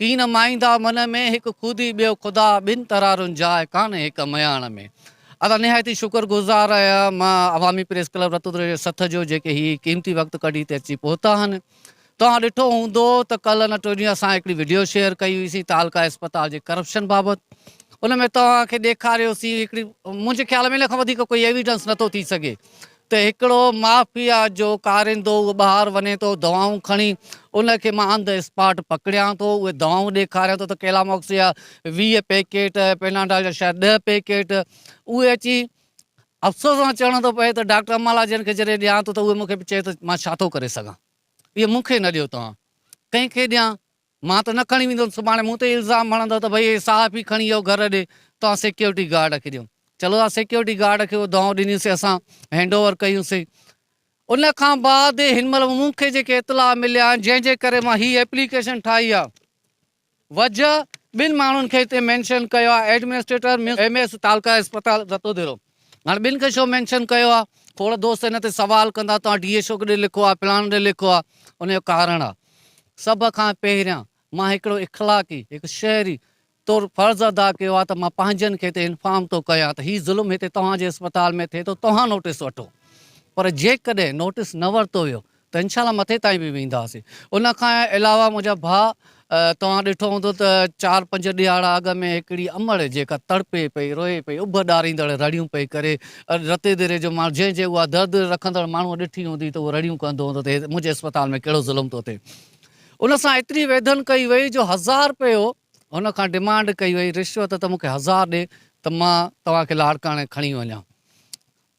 تين مائيندا من ۾، هڪ خودي ٻيو خدا، ٻن ترارن جاء ڪانهي هڪ مياڻ ۾. اسان نهايت ئي شڪر گذار آهيان مان عوامي پريس ڪلب رتودري جي سٿ جو جيڪي هي قيمتي وقت ڪڍي هتي اچي پهتا آهن توهان ڏٺو هوندو ته ڪلهه ان ٽي ڏينهن اسان هڪڙي وڊيو شيئر ڪئي هئي سين تعلقه اسپتال جي ڪرپشن بابت ان ۾ توهان کي ڏيکاريو سين هڪڙي منهنجي خيال ۾ ان کان وڌيڪ ڪوئي ايويڊنس نٿو ٿي سگهي ته هڪڙو مافيا جو ڪاريندو اهو ٻاهر وڃي ٿو دوائون کڻي ان کي مان آن دي اسپاٽ پڪڙيان ٿو اهي دوائون ڏيکاريان ٿو ته ڪيلاماڪس جا ويهه پيڪيٽ پيناڊال جا شايد ڏهه پيڪيٽ اهي اچي افسوس سان چوڻو ٿو پئي ته ڊاڪٽر امالا جن کي جڏهن ڏيان ٿو ته اهي مون کي چئي ٿو مان ڇا ٿو ڪري سگهان اهي مون کي نه ڏيو توهان ڪنهن کي ڏيان مان ته نه کڻي ويندس، سڀاڻي مون تي ئي الزام هڻندؤ ته ڀئي هي صحافي کڻي ويو گهر ڏي، توهان سيڪيورٽي گارڊ کي ڏيو. چلو ها سيڪيورٽي گارڊ کي اهو دانهون ڏنيسي اسان هينڊ اوور ڪيونسي. ان کان بعد هن مهل مون کي جيڪي اطلاع مليا آهن جنهن جي ڪري مان هي ايپليڪيشن ٺاهي آهي وجهه ٻن ماڻهن کي هتي مينشن ڪيو آهي ايڊمنسٽريٽر ايم ايس تعلقه اسپتال رتوديرو، هاڻ ٻن کي ڇو مينشن ڪيو آ کوڙ دوست هن تي سوال ڪندا توهان ڊي اي ڇو ڪڏهن لکو آ فلاڻو ڏي لکو آ ان جو ڪارڻ آ سڀ کان پهريان مان هڪڙو اخلاقي هڪ شهري طور فرض ادا ڪيو آ ته مان پنهنجن کي تي انفارم ٿو ڪيان ته هي ظلم هتي توهان جي اسپتال ۾ ٿئي ٿو توهان نوٽيس وٺو پر جيڪڏهن نوٽيس نه ورتو ويو ته انشاء الله مٿي تائين به وينداسين ان کان علاوه منهنجا ڀاء توهان ڏٺو هوندو ته چار پنج ڏهاڙا اڳ ۾ هڪڙي امڙ جيڪا تڙپي پئي روئي پئي اڀ ڏاريندڙ رڙيون پئي ڪري رتي ديري جو ماڻهو جنهن جي اها درد رکندڙ ماڻهو ڏٺي هوندي ته اهو رڙيون ڪندو هوندو ته منهنجي اسپتال ۾ ڪهڙو ظلم ٿو ٿئي ان سان ايتري ويڌن ڪئي وئي جو هزار رپيو هن کان ڊمانڊ ڪئي وئي رشوت ته مونکي هزار ڏي ته مان توهان کي لاڙڪاڻي کڻي وڃان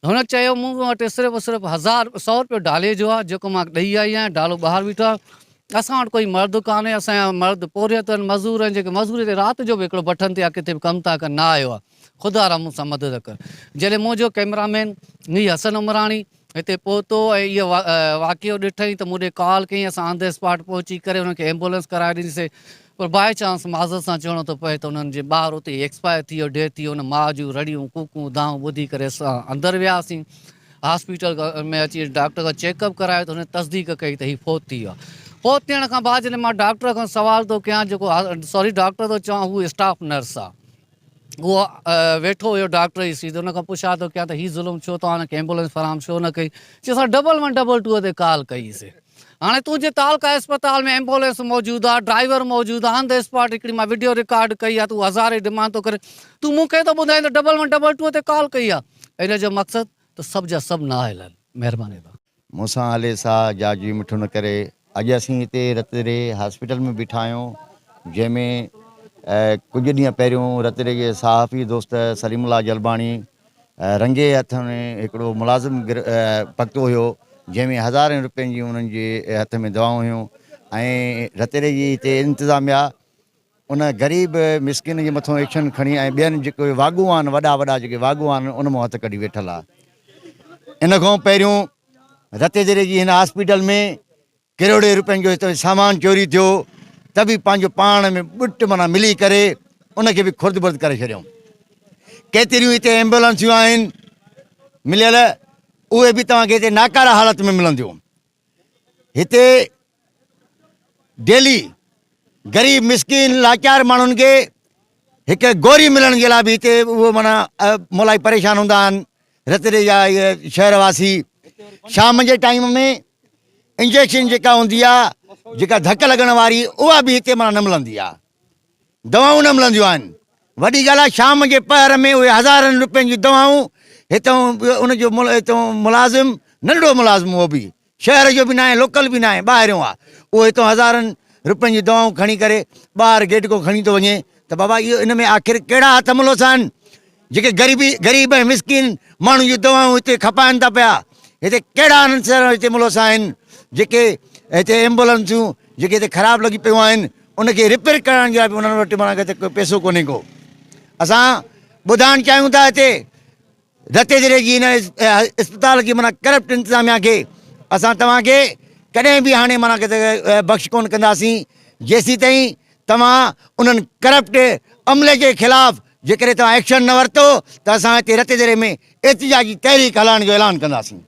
هن چيو مون وٽ صرف صرف هزار سئو روپيو ڊالي جو آهي جيڪو مان ڏئي آئي آهيان ڊالو ٻاهر بيٺو آهي اسان وٽ ڪوئي مرد ڪانهي اسان جا مرد پورهيت آهن مزور آهن جيڪي مزوري تي رات جو به هڪڙو بٺن تي يا ڪٿي به ڪم ٿا ڪن نه آيو آهي خدا را مون سان مدد ڪر جڏهن مون جو ڪئميرا مين مير حسن عمراڻي هتي پهتو ۽ اهو واقعو ڏٺائين ته مون ڏي ڪال ڪيائين اسان آن دي اسپاٽ پهچي ڪري هن کي ايمبولينس ڪرائي ڏنيسي پر بائي چانس معذرت سان چوڻو ٿو پوي ته انهن جي ٻار اتي ئي ايڪسپائر ٿي ويو، ڊيٿ ٿي ويو، ان ماء جون رڙيون، ڪوڪون، دانهون ٻڌي ڪري اسان اندر وياسين. هاسپيٽل ۾ اچي ڊاڪٽر کان چيڪ اپ ڪرايو ته هن تصديق ڪئي ته هي فوت ٿي ويو آهي. فوت ٿيڻ کان بعد جڏهن مان ڊاڪٽر کان سوال ٿو ڪيان جيڪو ساري ڊاڪٽر ٿو چوان هو اسٽاف نرس آهي. اهو ويٺو هيو ڊاڪٽر جي سيٽ تي ان کان پڇا ٿو ڪيان ته هي ظلم ڇو توهان هن کي ايمبولينس فراهم ڇو نه ڪئي چي اسان ڊبل ون ڊبل ٽو تي ڪال ڪئي سي هاڻي تنهنجي تعلقه اسپتال ۾ ايمبولينس موجود آ ڊرائيور موجود آ آن دي اسپاٽ هڪڙي مان وڊيو رڪارڊ ڪئي آ تون هزارين ڊيمانڊ ٿو ڪري تون مون کي ٿو ٻڌائين ته ڊبل ون ڊبل ٽو تي ڪال ڪئي آ ان جو مقصد ته سڀ جا سڀ نااهل آهن مهرباني مون سان هلي ساء جا جي مٺو نه ڪري. اڄ اسين هتي رتڙي هاسپيٽل ۾ بيٺا آهيون جنهن ۾ ڪجهه ڏينهن پهريون رتڙي جي صحافي دوست سليم الله جلباڻي رنگي هٿ ۾ هڪڙو ملازم پڪتو هيو جنهن ۾ هزارين رپين جي انهن جي هٿ ۾ دوائون هيون ۽ رتڙي جي هتي انتظاميا ان غريب مسڪين جي مٿو ايڪشن کڻي ۽ ٻين جيڪي واڳون آهن وڏا وڏا جيڪي واڳون آهن ان مون هٿ ڪڍي ويٺل آ ان کان پهريون رتيجري جي هن هاسپيٽل ۾ ڪروڙين روپين جو هتو سامان چوري ٿيو ته به پنهنجو پاڻ ۾ ٻٽ مانا ملي ڪري ان کي به خرد برد ڪري ڇڏيائون ڪيتريون هتي ايمبولنسيون آهن مليل اهي به توهان کي هتي ناڪاره حالت ۾ ملنديون هتي ڊيلي غريب مسڪين لاچار ماڻهن کي هڪ گوري ملڻ جي لاء به هتي اهو مانا مولائي پريشان هوندا آهن رتڙي جا اهي شهر واسي شام جي ٽائيم ۾ انجيڪشن جيڪا هوندي آهي جيڪا ڌڪ لڳڻ واري اها به هتي مانا نه ملندي آهي دوائون نه ملنديون آهن. وڏي ڳالهه آهي شام جي پهر ۾ اهي هزارن روپين جون دوائون هتئون ان جو هتئون ملازم ننڍڙو ملازم اهو به شهر جو به ناهي لوڪل به ناهي ٻاهريون آهي اهو هتئون هزارن روپين جون دوائون کڻي ڪري ٻاهر گيٽڪو کڻي ٿو وڃي ته بابا اهو ان ۾ آخر ڪهڙا هٿ ملوسا آهن. جيڪي غريبي غريب ۽ مسڪين ماڻهن جون دوائون هتي کپائن ٿا پيا هتي ڪهڙا انهن سان هتي ملوث آهن جيڪي هتي ايمبولنسون جيڪي هتي خراب لڳي پيون آهن ان کي ريپيئر ڪرائڻ جي لاء به انهن وٽ مانا هتي ڪو پيسو ڪونهي ڪو اسان ٻڌائڻ چاهيون ٿا هتي رتي ضلعي جي هن اسپتال کي مانا ڪرپٽ انتظاميا کي اسان توهان کي ڪڏهن به هاڻي مانا بخش ڪون ڪنداسين جيسي تائين توهان انهن ڪرپٽ عملي جي خلاف جيڪڏهن توهان ايڪشن نه ورتو ته اسان هتي رتيديري ۾ احتجاجي تحريڪ هلائڻ جو اعلان ڪنداسين.